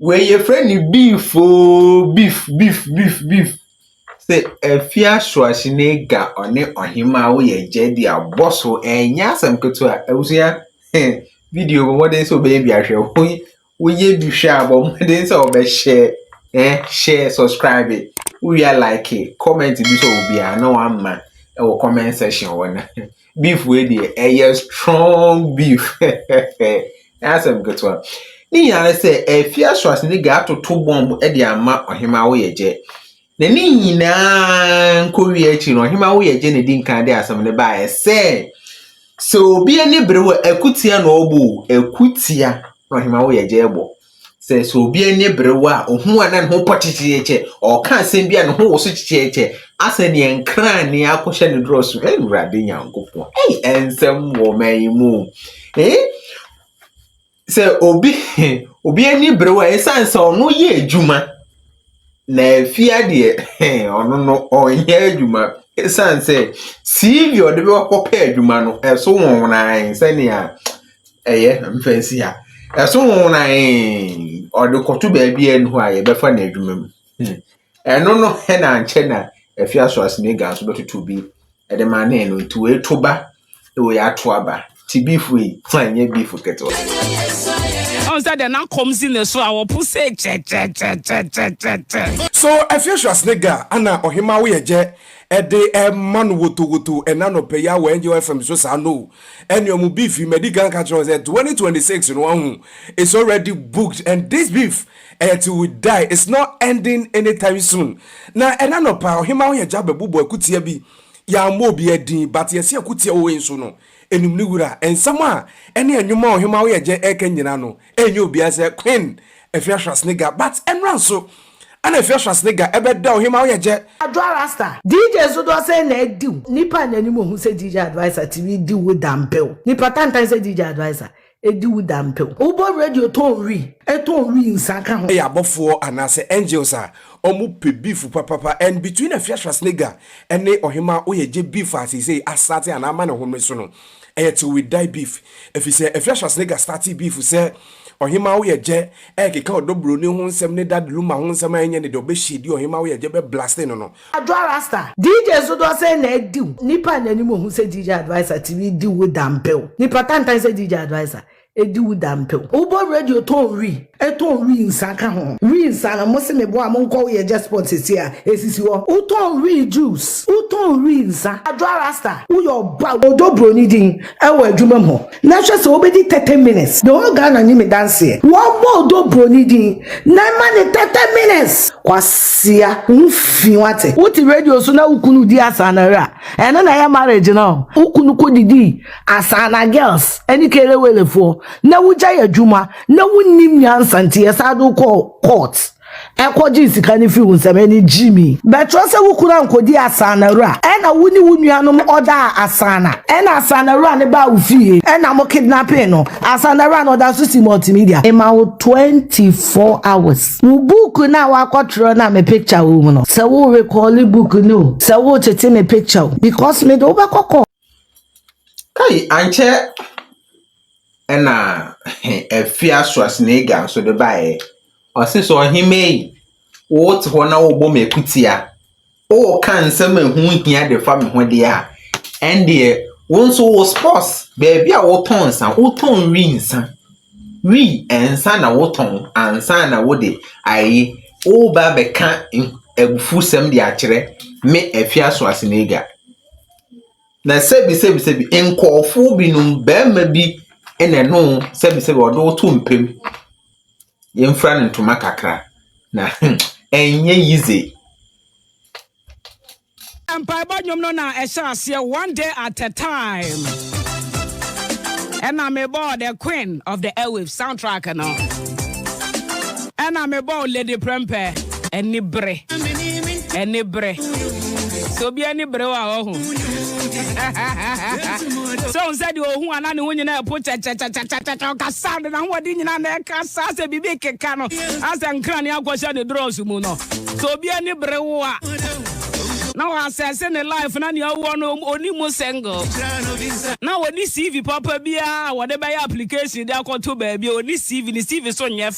Wei yɛfrɛ no beef oo, beef, beef, beef, beef. Sɛ afie asoase na ega ɔne ɔhemaa woyɛ gya di a bɔ so ɛnyɛ asɛm ketewa. Abusua, video bɔ mmɔden sɛ ɔbɛyɛ bi ahwɛ. Woyɛ bi hwɛ a bɔ mmɔden sɛ ɔbɛhyɛ, ɛ hyɛ subscribe, wowie a like, comment bi sɛ obiara na wamma ɛwɔ comment section hɔ no. beef wei deɛ ɛyɛ strong beef asɛm ketewa ne nyinaa ne sɛ ɛfi asoase ne ga atoto bɔmb de ama ɔhema wo yɛ gyɛ na ne nyinaa nkɔwie akyi no ɔhema wo yɛ gyɛ na ɛdi nkan de asɛm no baeɛ sɛ sɛ obi ani bere wɔ akutia na ɔbɔ akutia na ɔhema wo yɛ gyɛ bɔ Sɛ sɛ obi ani berew a, ohu a na ne ho pɔ kyekyekyekyɛ, ɔka asɛm bi a ne ho wɔ so kyekyekyekyɛ, asɛ nea nkrane akɔhyɛ ne dorɔ so. Ɛyɛ Awurade Nyankopɔn. Ɛyɛ ɛnsɛm wɔ ɔman yi mu. Ee, sɛ obi obi ani berew a, ɛsan sɛ ɔno yɛ adwuma. Na fia deɛ ɔno no ɔnyɛ adwuma ɛsiane sɛ CV a ɔde bɛkɔpɛ adwuma no ɛso nwonwonae sɛnea ɛyɛ mfɛnsi a ɛso nwonwonae ɔde kɔto baabi a ɛnu hɔ a yɛbɛfa no adwuma mu hmm. ɛno no ɛna ankyɛ na afia so asenega nso bɛtoto bi Ɛde ma ne no nti wei to ba wei ato aba ti beef wei fa nyɛ beef ketewa. Ɔn sɛ dɛ na kɔm si ne so a ɔpo sɛ kyɛkyɛkyɛkyɛkyɛkyɛ. So Afiasuas ne ga ana ɔhema wo yɛ gyɛ ɛde ɛma no wotowoto ɛna anɔpa yi awɔ Angel FM so saa no ɛne ɔmo beef yi madi kan ka kyerɛ wɔn sɛ 2026 no wahu it's already booked and this beef Ɛyɛ till we die, it's not ending anytime soon. Na ɛna nɔpa, Ɔhemmaa Ɔhɛgya bɛbobɔ akutia bi. Yɛammɔ obiara din, but yɛse akutia wɔ wei nso no, ɛnim ne wura. Nsɛm a ɛne ɛnwom a Ɔhemmaa Ɔhɛgya ɛreka nyinaa no, ɛnyɛ obiara sɛ Queen Afia Schwarzenegger, but ɛnora nso ɛna Afia Schwarzenegger ɛbɛda Ɔhemmaa Ɔhɛgya. Adwoa Rasta, DJ nso doɔ sɛn na ɛdiw? Nnipa nni anim ɔhu sɛ DJ Adviser tumi di wo dampew. Nnipa tantan sɛ DJ Adviser, Edi wo da mpew. Wobɔ radio tɔn wi, tɔn wi nsa ka ho. Ɛyɛ abɔfoɔ anaasɛ angels a ɔmo pɛ beef papapa and between Afia Schwarzenegger ɛne ɔhemaa oyɛ gye beef a seisei asate anaa ama ne homere so no ɛyɛ till we die beef efisɛ Afia Schwarzenegger startee beef sɛ ɔhemaa oyɛ gyɛ ɛɛkeka ɔdɔ broni ho nsɛm ne dad Luma ho nsɛm a ɛnyɛ ne dɛ ɔbɛ shadie ɔhemaa oyɛ gyɛ bɛ blaste no no Adwoa Rasta! DJ so dɔ sɛn na adi wo? Nipa nya nim ohu sɛ DJ Adviser TV di wo dampew. Nipa tantan sɛ DJ Adviser edi wo dampew. Wo bɔ radio tɔn wi, ɛtɔn wi nsa ka ho. Wi nsa no mo se me boa mo nkɔ wo yɛ Jesport sesie a esisi hɔ. Wo tɔn wi juice, wo tɔn wi nsa. Adwoa Rasta, wo yɛ ɔba, wo dɔ broni din ɛwɔ adwuma mu hɔ. Na hwɛ sɛ wobɛdi 30 minutes the whole Ghana nim me danseɛ wɔbɔ odɔ broni din na ɛma ne 30 minutes kwasia wo ho fi wate. Wote radio so na wo kunu di asaanare a ɛno na ɛyɛ marriage no wo kunu kɔ didi asaana girls ɛne kelewelefoɔ na wo gyae adwuma na wo nnim nyansa nti yɛsan de wo kɔɔ court. Ɛkɔgyee sika no fii wo nsam, ɛne Jimmy. Bɛtwerɛ sɛ wo kunu ankɔdi Asanawura, ɛna wo ne wo nuanom ɔdaa Asana, ɛna Asanawura no baa wo fie, ɛna mo kidnapping no. Asanawura no ɔda nso si multimedia. Mema wo 24 hours. Wo book no a woakɔtwerɛ no a me picture wɔ mu no, sɛ wo recalli book no o, sɛ wo tete me picture o, because me de wo bɛkɔ court. Kai, ankyɛ ɛna Afia Schwarzenegger nso de baeɛ. Ɔse sɛ ɔhemma yi, wote hɔ na wobɔ me akutia, woka nsɛm a ɛho hia de fa me ho deɛ a, ɛndeɛ wo nso wo sports baabi a wotɔn nsa, wotɔn wi nsa. Wi nsa na wotɔn ansa na wode ayi woba bɛka abufusɛm de akyerɛ me Afia Schwarzenegger. Na sɛbi sɛbi sɛbi nkɔɔfoɔ binom, bɛrima bi na ɛne wo sɛbi sɛbi ɔde wo to mpam. yɛmfura no ntoma kakra na hmm, ɛnyɛ yize. mpaebɔ nnwom no na ɛhyɛ aseɛ one day at a time ɛna mebɔɔ the queen of the airwaves soundtrack no ɛna mebɔɔ lady prɛmpɛ anibere anibere sɛ obi anibere wɔ a ɔho sɛ ɔhu sɛ deɛ ɔhu ana ne ho nyinaa ɛpo kyɛkyɛkyɛkyɛkyɛkyɛ ɔkasa de n'ahoɔden nyinaa na ɛkasa sɛ biribi keka no asɛ nkra ne akɔhyɛ ne drɔs mu no sɛ obi anibere wo a na wɔasɛse ne life na nea ɔwɔ no ɔni mu single na wɔni cv papa biara a wɔde bɛyɛ application de akɔto baabi a ɔni cv ne cv so nyɛ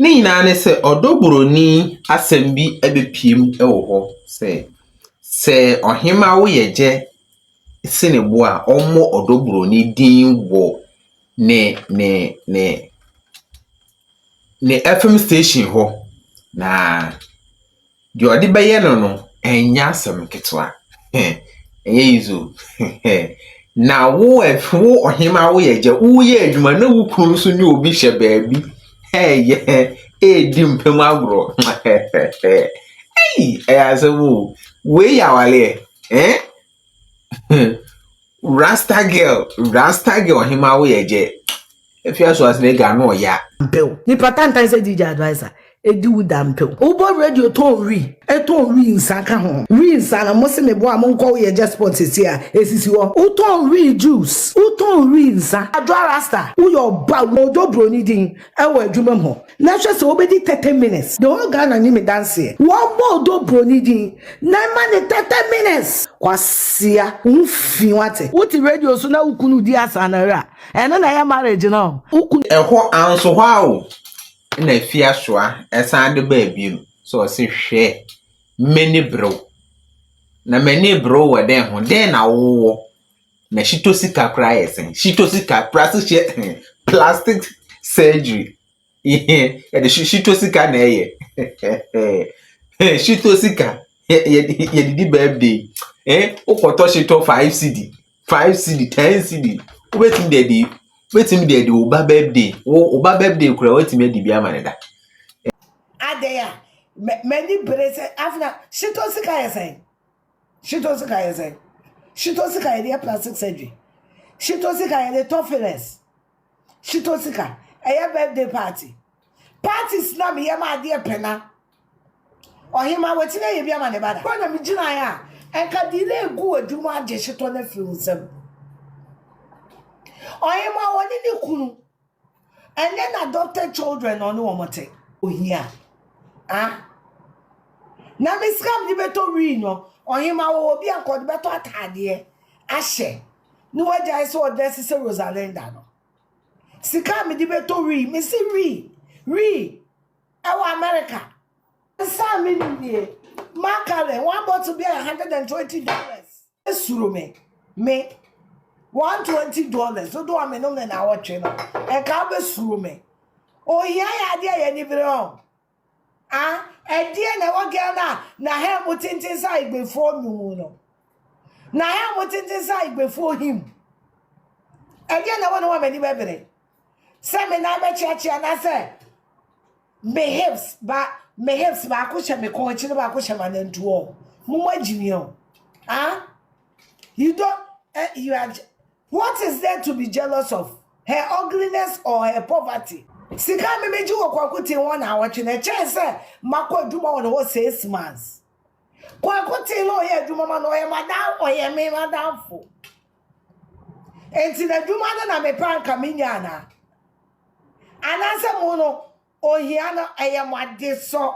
Ne nyinaa ne sɛ ɔdɔ buroni asɛm bi bɛpue mu wɔ hɔ sɛ, sɛ ɔhemma wo yɛ gyɛ sene bo a, ɔmmɔ ɔdɔ buroni din wɔ ne ne ne ne FM station hɔ, na Deɛ ɔde bɛyɛ no no, ɛnyɛ asɛm ketewa. Ɛnyɛ easy o. Na wo wo ɔhemaa woyɛ agya, woyɛ adwuma na wo kunu nso ne obi hyɛ baabi ɛyɛ ɛredi mpam agorɔ. Ei, ɛyɛ asɛm o. Wei yɛ awaleɛ. Eh? Rasta girl rasta girl ɔhemaa wo yɛ gyɛ efi aso ase na ega ano ɔya. Mpew. Nipa tantan sɛ DJ adviser. Edi wo da mpew. Wobɔ radio tɔn wi ɛtɔn wi nsa ka ho wi nsa no mose me boa mo nkɔ wo yɛ gyɛ spot sesie a esisi hɔ wotɔn wi juice wotɔn wi nsa adwoa rasta woyɛ ɔba wodɔ broni din ɛwɔ adwuma mu hɔ. Na hwɛ sɛ wobɛdi thirty minutes. The whole Ghana nim me danseɛ. Wɔbɔ Odoo broni din na ɛma no thirty minutes. Kwasia, wo ho fi wate. Wote radio so na wo kunu di asaa na ra, ɛno na ɛyɛ marriage no? Wo kunu. Ɛhɔ anso hɔ ara o na Afiasoa san de baa bio sɛ ɔse hwɛ m'ani bere wo. Na m'ani bere wo wɔ dɛn ho? Dɛn na wowɔ? Na shito sika koraa yɛ sɛn? Shito sika, plastic hyɛ plastic surgery. Yɛde shito sika na ɛyɛ. Shito sika, yɛde di birthday. Eh, wokɔtɔ shito 5 CD, 5 CD, 10 CD. Wobɛtumi de adi, wobɛtumi de adi wo ba birthday. Wo ba birthday koraa, wobɛtumi adi bi ama ne da. Adɛn a, m'ani bere sɛ afena shito sika yɛ sɛn? Shito sika yɛ sɛn? Shito sika yɛde yɛ plastic surgery. Shito sika yɛde tɔ fillers. Shito sika ɛyɛ birthday party. Parties na meyɛ ma adeɛ pɛ na ɔhema watumi ayɛ bi ama ne ba da. Hɔ na megyinaeɛ a ɛnka delay gu adwuma agye shito no afiri wo nsam. Ɔhema ɔne ne kunu. ɛnɛ na adopted children na ɔne wɔn te ohia ah na me sika mede bɛtɔ wii no ɔhema wɔ obi a nkɔde bɛtɔ ataadeɛ ahyɛ ne wagyae sɛ ɔdɛ se sɛ rosalinda no sika a mede bɛtɔ wii mese wii wii ɛwɔ america nsa a menim nie makalen one bottle bi a 120 dollars Suro me. Me. One twenty dollars. Dodo a me nom ne na wɔtwe no. Ɛka bɛ suro me. Ohia yɛ adeɛ yɛ ni bere hɔ. Ah, ɛdeɛ na ɛwɔ Ghana na hɛn mo tenten sa igbefoɔ num no. Na hɛn mo tenten sa igbefoɔ him. Ɛdeɛ na ɛwɔ ne ho a m'ani bɛbere. sɛ me nan bɛkyeakyea anaasɛ me hips ba me hips baako hyɛ me kɔn akyi na baako hyɛ m'anantuo mo mo agyimi o ah you don eh, you are what is there to be jealous of her ugliness or her poverty sika mi mi gye wɔ kwaku ten wɔn na awɔtwe na ɛkyɛn sɛ makɔ adwuma wɔ ne hɔ six months kwaku ten na ɔyɛ adwuma ma na ɔyɛ madam ɔyɛ me madamfo Enti n'adwuma no na mepɛ anka menya anaa? Anaasɛ mo no, ohia no, ɛyɛ mo adesɔ?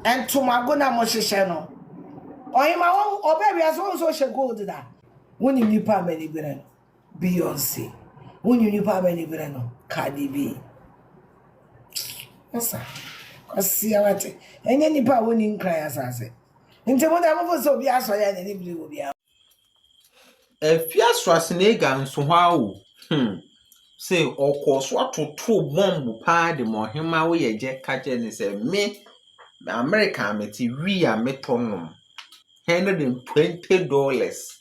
Ntomago na mohyehyɛ no. Ɔhema wɔn ɔbɛ wiase wɔn nso hyɛ gold da. Wonim nipa a m'ani bere no? Beyonce. Wonim nipa a m'ani bere no? Cardi B. Ɛsa. Kwasia wate. Ɛnyɛ nipa a wɔnni nkran asase. Nti mo deɛ mofo sɛ obi asɔre a n'ani bere wɔ biara ho. Afia Schwarzenegger nso hɔ ara o. Hmm. Sɛ ɔkɔɔ so atoto bɔmbo paa de ma ɔhemmaa woyɛ gyɛ ka kyerɛ ne sɛ me America a mete wii a metɔ nom. Hundred and twenty dollars.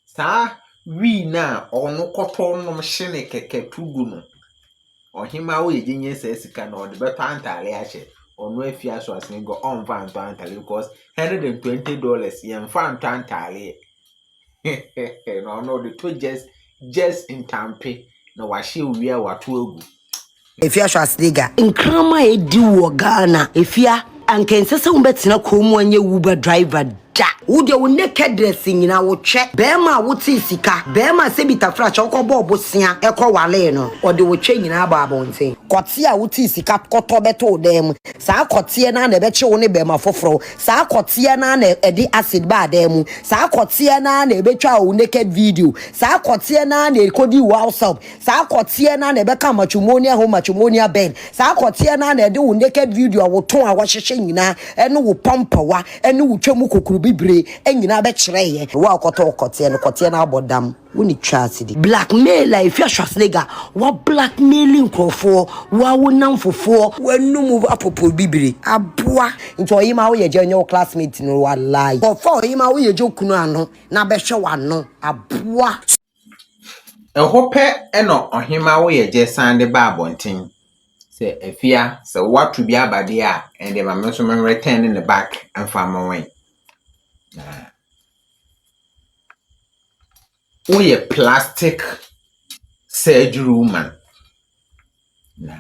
Saa wii no a ɔno kɔtɔ nom hyene kɛkɛ to gu no, ɔhemmaa wo yɛgye nyɛ saa sika na ɔde bɛtɔ antaare ahyɛ. Ɔno afi aso asene gɔ ɔmfa ntɔ antaare because hundred and twenty dollars yɛmfa ntɔ antaare. na ɔno ɔde to just just ntampe na wahyɛ owie a wato agu. Efya hwɛ ase de ga. Nkraman a edi wɔ Ghana. Efya, anka ɛnsɛ sɛ wobɛtena kurom mu anyɛ Uber driver da. Wo deɛ wo nakedness nyinaa wotwɛ. Barima a wotee sika, barima a sɛ bi tafra kyɛ wokɔbɔɔ bosea kɔwaree no, ɔde wo twɛ nyinaa bɔ abɔnten. Kɔteɛ a wotee sika kɔtɔ bɛto wo dan mu, saa kɔteɛ no ara na ɛbɛkye wo ne barima foforɔ, saa kɔteɛ no ara na ɛde acid baa dan mu, saa kɔteɛ no ara na ɛbɛtwaa wo naked video, saa kɔteɛ no ara na ɛkɔdii wo house help. Saa akɔteɛ no ara na ɛbɛka matrimonial home matrimonial bɛn saa akɔteɛ no ara na ɛde wo naked video a woto a wɔhyehyɛ nyinaa ɛne wo pampawa ɛne wo twam kokoro bibire ɛnyinaa bɛkyerɛ yɛ ɛwɔ a kɔtɔ kɔteɛ no kɔteɛ no abɔ dam wo ne twa ase di. Blackmail a ɛfiri Schwarzenegger wa blackmaili nkurɔfoɔ wa wo namfofoɔ. W'anum apoporo bibire aboa. Nti ɔyima wo yɛ gya nyɛ wo classmate no walayi. Kɔfa ɔyima wo yɛ gya okunu ano na bɛhwɛ w'ano aboa. Ɛhɔ pɛ na ɔhemma Woyɛgyɛ san de ba abɔnten sɛ, Afia, sɛ woato bi aba deɛ a, ɛnneɛ ma me nso meretɛne no back mfa mma wo. Na woyɛ plastic surgery woman. Na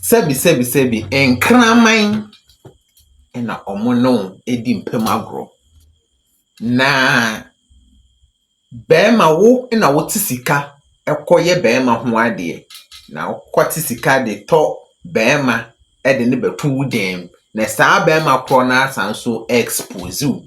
sɛbisɛbisɛbi, nkraman na wɔne wo di mpam agorɔ. Na . Bɛɛma wo na wo te sika kɔ yɛ bɛɛma ho adeɛ na wo kɔ te sika de tɔ bɛɛma de ne bɛ to wo dɛm na saa bɛɛma korɔ no asan nso expose wo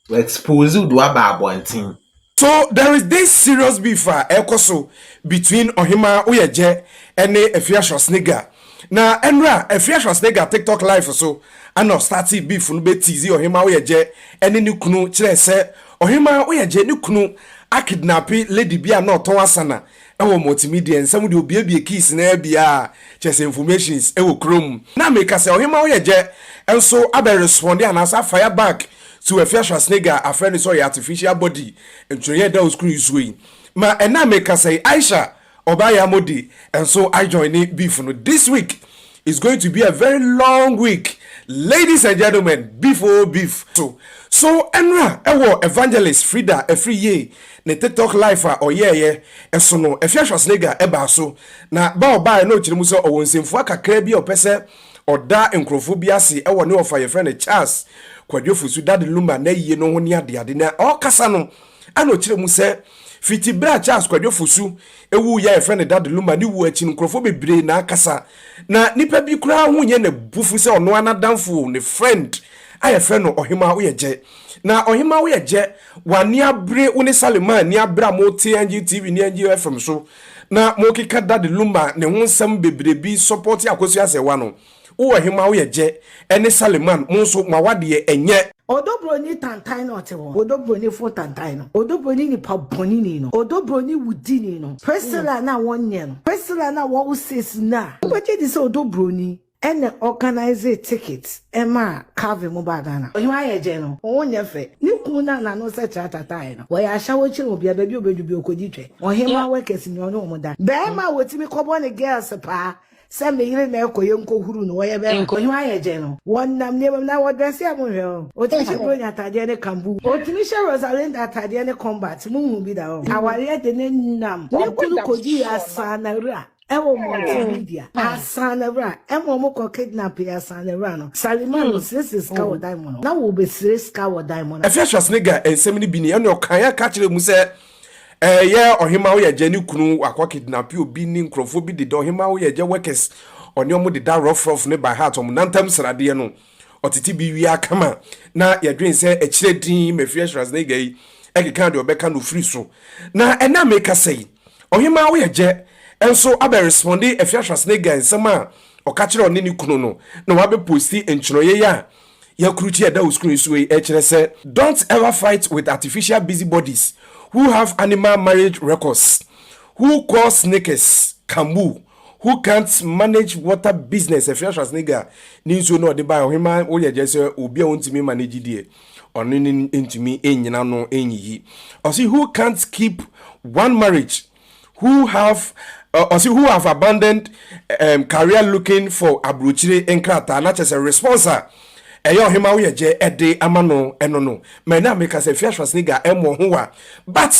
wɔ expose wo de waba abɔnten. So there is this serious beef a ɛrekɔ so between Ɔhemaa Oyɛgyɛ ne Afia Schwarzenegger Na ɛnora a ɛfeɛ Schwarzenegger TikTok live so ana ɔstartee beef no bɛ tease Ɔhemaa Woyɛgyɛ ɛne ne kunu kyerɛɛ sɛ Ɔhemaa Woyɛgyɛ ne kunu akidnape lady bi a na ɔtɔn asana ɛwɔ Multimedia nsɛm deɛ ɔbuebue keys no ara bi ara kyerɛ sɛ informations ɛwɔ kurom na meka sɛ Ɔhemaa Woyɛgyɛ nso abɛ responde anaasɛ afire back to ɛfeɛ Schwarzenegger afrɛ no sɛ ɔyɛ artificial body ntwerɛeɛ ɛda wo screen soɔ yi ma ɛna meka sɛ Aisha Ɔbaa yi amo de nso I join ne beef no this week is going to be a very long week ladies and gentlemen beef oo beef so so ɛnra ɛwɔ evangelist Frida ɛfiri yie ne tiktok life a ɔyɛɛyɛ ɛso no ɛfia Schwarzenegger ɛbaa so na ba ɔbaaɛ na ɔkyerɛ mu sɛ ɔwɔ nsɛmfua kakraa bi a ɔpɛ sɛ ɔda nkorɔfoɔ bi ase ɛwɔ ne ɔfa yɛfrɛ no Charles Kwadwo Fosu Daddy Luma n'ayie no ho ne adeade na ɔkasa no Ɛna ɔkyerɛ mu sɛ, fiti berɛ a Charles Kwadwo Fosu wuiɛ a yɛfrɛ no Dad Luma, ne wuo akyi no nkurɔfoɔ bebree na akasa. Na nnipa bi koraa ho nyɛ n'abufuo sɛ ɔno ara n'adamfo, ne friend a yɛfrɛ no Ɔhemaa Woyɛgyɛ. Na Ɔhemaa Woyɛgyɛ, w'ani abere, wo ne Salimah ani abere a mote NGO TV ne NGO FM so na mokeka Dad Luma ne ho nsɛm bebree bi sɔpɔte Akosua Sɛwa no. Wo ɔhemmaa wo yɛ gyɛ ɛne Saleman mo nso mo awadeɛ ɛnyɛ. Odɔ broni tantan no ɔte hɔ odɔ broni fo tantan no odɔ broni nipa bɔne ni no odɔ broni wu di ni no Priscilla na wɔ nyɛ no Priscilla na wɔ wo sis no a wo bɛ gye di sɛ odɔ broni ɛna organise ticket ɛma Calvin mo baa Ghana ɔhemmaa yɛ gyɛ no wo nyɛ fɛ ne kunu na na no sɛ tra ta tae no wɔ yɛ ahyɛ wo kyerɛ obia baabi obɛ du bi ɔkɔ di twɛ ɔhemmaa wɔ kɛse ni ɔne ɔmo da bɛɛma a wɔ timi kɔ bɔ ne girls paa Sɛ me yere na ɛkɔ yɛn nkɔ huru no wɔ yɛ bɛma. Nkɔ hua yɛ gyɛ no. Wɔ nam nneɛma mu na wɔ dress yɛ mo nhwɛ ho. Otumi hyɛ bronya ataadeɛ ne kambu. Otumi hyɛ Rosalinda ataadeɛ ne combat mo nhu bi da hɔ. Awareɛ de ne nam ne kunu kɔ di asaanawura ɛwɔ mmɔnten ne dua asaanawura ɛma ɔmo kɔ kidnap yɛ asaanawura no Salima no sere sere sika wɔ dan mu no na wɔ bɛ sere sika wɔ dan mu na. Afia Schwarzenegger nsɛm no bi ni ɛna ɔkaeɛ ka kyerɛɛ mu sɛ Ɛɛ yɛ ɔhema woyɛgya ne kunu wakɔ kidnapi obi ne nkurɔfoɔ bi deda ɔhema woyɛgya workers ɔne ɔmo deda rough rough ne by heart ɔmo nantam sradeɛ no ɔtete bi wie akama na yɛdwen sɛ ɛkyerɛ din mafiri ashras ne gai ɛkeka deɛ ɔbɛka no firi so na ɛna meka sɛ yi ɔhema woyɛgya nso abɛ responde afi ashras ne gai nsɛm a ɔka kyerɛ ɔne ne kunu no na wabɛ posti nkyerɛyɛ a Yɛ koro ti a ɛda wo screen so yi kyerɛ sɛ. Don't ever fight with artificial busybodies who have animal marriage records, who call sneakers Kambu, who can't manage water business Ɛfiri Schwarzenegger ne nsuo no a ɔde baeɛ Ɔhemaa woyɛ gyɛ sɛ obi a ɔntumi mma n'agyi deɛ ɔno ne ntumi nnyina ano nyiyi Ɔse who can't keep one marriage who have uh, ɔsi who have abandoned um, career looking for aburokyire nkrataa na kyerɛ sɛ response a ɛyɛ ɔhema wo yɛ gyɛ ɛde ama no ɛno no mɛ na meka sɛ fia Schwarzenegger ɛmmɔ ho wa but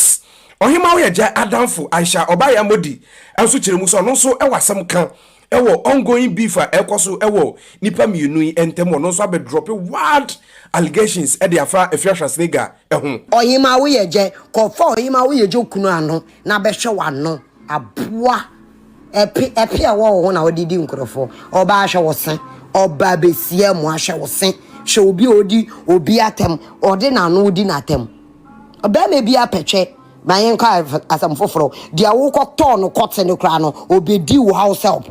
ɔhema wo yɛ gyɛ adamfo Aisha ɔbaayɛ amodi nso kyerɛ mu sɛ ɔno nso ɛwɔ asɛm ka Ɛwɔ ongoing beef a ɛrekɔ so wɔ nnipa mmienu yi ntam, ɔno nso abɛdrɔpe wild allegations de afa Afia Schwarzenegger ho. Ɔhemaa Woyɛgyɛ, kɔ fa Ɔhemaa Woyɛgyɛ okunu ano na bɛhwɛ w'ano, aboa, ɛpe, ɛpe a ɛwɔ wo ho na wode di nkurɔfoɔ, ɔbaa hwɛ wo se, ɔbaa bɛsi amoa hwɛ wo se, hwɛ obi a ɔdi obi atɛm, ɔde n'ano di n'atɛm, ɔbarima biara pɛ twɛ. Na yɛnka asɛm foforɔ, deɛ wokɔtɔɔ no kɔte no koraa no, ɔbɛdi wo house help.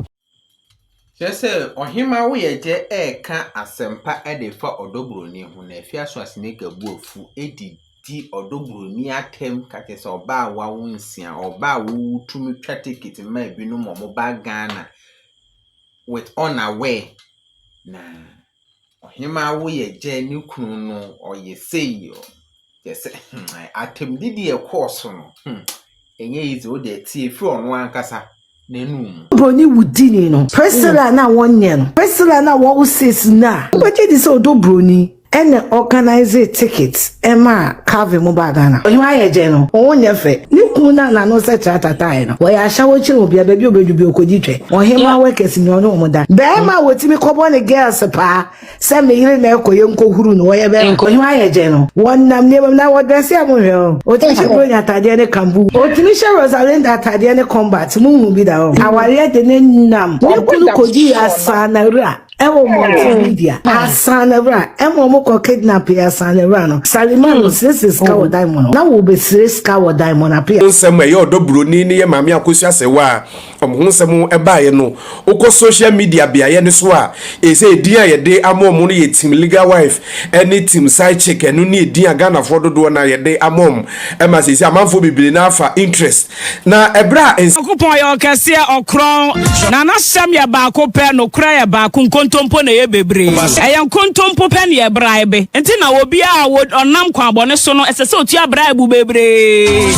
Kyerɛ sɛ, Ɔhemmaa Woyɛgyɛ reka asɛmpa de fa ɔdɔ buroni ho, na afei aso Aseneka bu afu de di ɔdɔ buroni atɛm ka kyerɛ sɛ ɔbaa a wawo nsia, ɔbaa a wotumi twa ticket ma ebinom ma wɔba Ghana with unaware, na. Ɔhemaa wo yɛ gyɛ ne kunu no ɔyɛ sei o kyerɛ sɛ hmm atɛmdi deɛ ɛkɔɔ so no hmm ɛnyɛ easy o deɛ tie firi ɔno ankasa n'anum. Broni wudini no Priscilla na wɔnyɛ no Priscilla na wɔwo sis no a wobɛgye di sɛ ɔdɔ broni ɛna organise tickets Ɛma Calvin mu baa Ghana. Ɔhema ayɛ gyɛ no, wo ho nyɛ fɛ. Ne kunu na n'ano sɛ tratatae no. Wɔyɛ ashawo kyerɛ wɔn bia baabi a obedu bia okodi twɛ. Ɔhema workers nyɛ ɔne wɔn da. Bɛɛma a wɔtumi kɔbɔ ne girls paa sɛ me yere na ɛkɔ yɛnkɔ huru no wɔyɛ bɛɛma. Ɔhema ayɛ gyɛ no. Wɔnam nneɛma mu na wɔ dresse a mo nhwɛ hɔ. Otumi hyɛ Bronya ataadeɛ ne kambu. Otumi hyɛ Rosalinda ataadeɛ ne combat, mo nhu bi da hɔ. Awareɛ de ne nam ne kunu kɔdii asaanawura. ɛwɔ multimedia asan na wura ɛma wɔn kɔ kidnap yɛ asan na wura no salima no siresi sika wɔ dan mu no na wɔbɛsire sika wɔ dan mu na pia. nsɛm a ɛyɛ ɔdɔ buroni ne yɛ maame akosua asɛwa a wɔn ho nsɛm ɛbaeɛ no wokɔ social media beaeɛ no so a ɛsɛ edin a yɛde ama wɔn no yɛ team legal wife ɛne team side chick ɛno ne edin a ghanafoɔ dodoɔ na yɛde ama wɔn ɛma sɛ sɛ amanfoɔ bebree no afa interest Na ɛberɛ a. Nyankopɔn yɛ Ɔkɛseɛ, Ɔkorɔn, na N'ahyɛm yɛ baako pɛ, nokorɛ yɛ baako, nkontompo na ɛyɛ bebree. Ɛyɛ nkontompo pɛ na ɛyɛ braibe. Enti na obiara a ɔnam kwanbɔne so no, ɛsɛ sɛ ɔtua braibu bebree.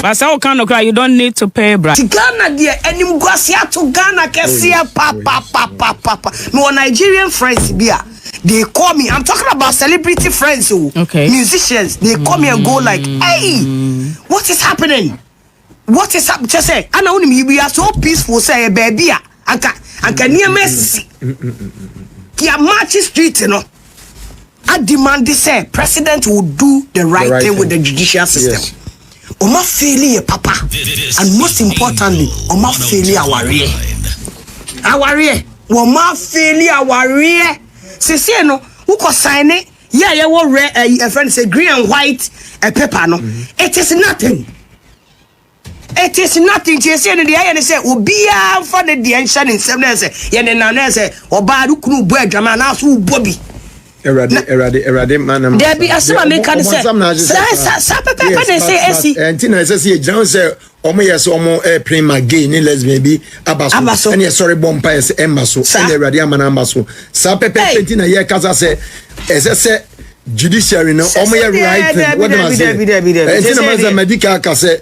But sɛ woka nokorɛ a, you don't need to pay bribe. Ti Ghana deɛ animguase ato Ghana kɛseɛ papapapapapa. Mewɔ Nigerian friends bi a. they call me i'm talking about celebrity friends o oh. okay. musicians they call me and go like mm. hey what is happening what is happening kyɛ sɛ ana wo nim we are so peaceful sɛ yɛ baabi a anka anka nneɛma asisi yɛ march street no a demand sɛ president will do the right, the right thing, thing with the judicial system. Yes. Ɔma feeli yɛ papa and most importantly ɔma feeli awareɛ awareɛ. Wɔma feeli awareɛ sesei no wokɔ sign yɛ a yɛwɔ rɛ ɛyi eh, ɛfrɛ no sɛ green and white eh, paper no it is nothing it is nothing nti ɛsɛ no deɛ ɛyɛ ne sɛ obiara mfa ne deɛ nhyɛ ne nsɛm no ɛsɛ yɛne na no ɛsɛ ɔbaa no kunu bɔ adwama anaaso wobɔ bi Awurade, Awurade, Awurade, ma na ma. Dabi asɛm a meka ne sɛ saa saa pɛpɛpɛ na ɛsɛ ɛsi. Ɛnti na ɛsɛ sɛ yɛgyina ho sɛ wɔn yɛ sɛ wɔn ɛpere ma gay ne lesbian bi aba so ɛne ɛsɔre bɔ mpa ɛsɛ ɛmma so ɛne Awurade ama na ama so saa pɛpɛpɛ nti na yɛkasa sɛ ɛsɛ sɛ judiciary no wɔn yɛ right thing wɔde ma se ɛnti na ma sɛ madi ka aka sɛ.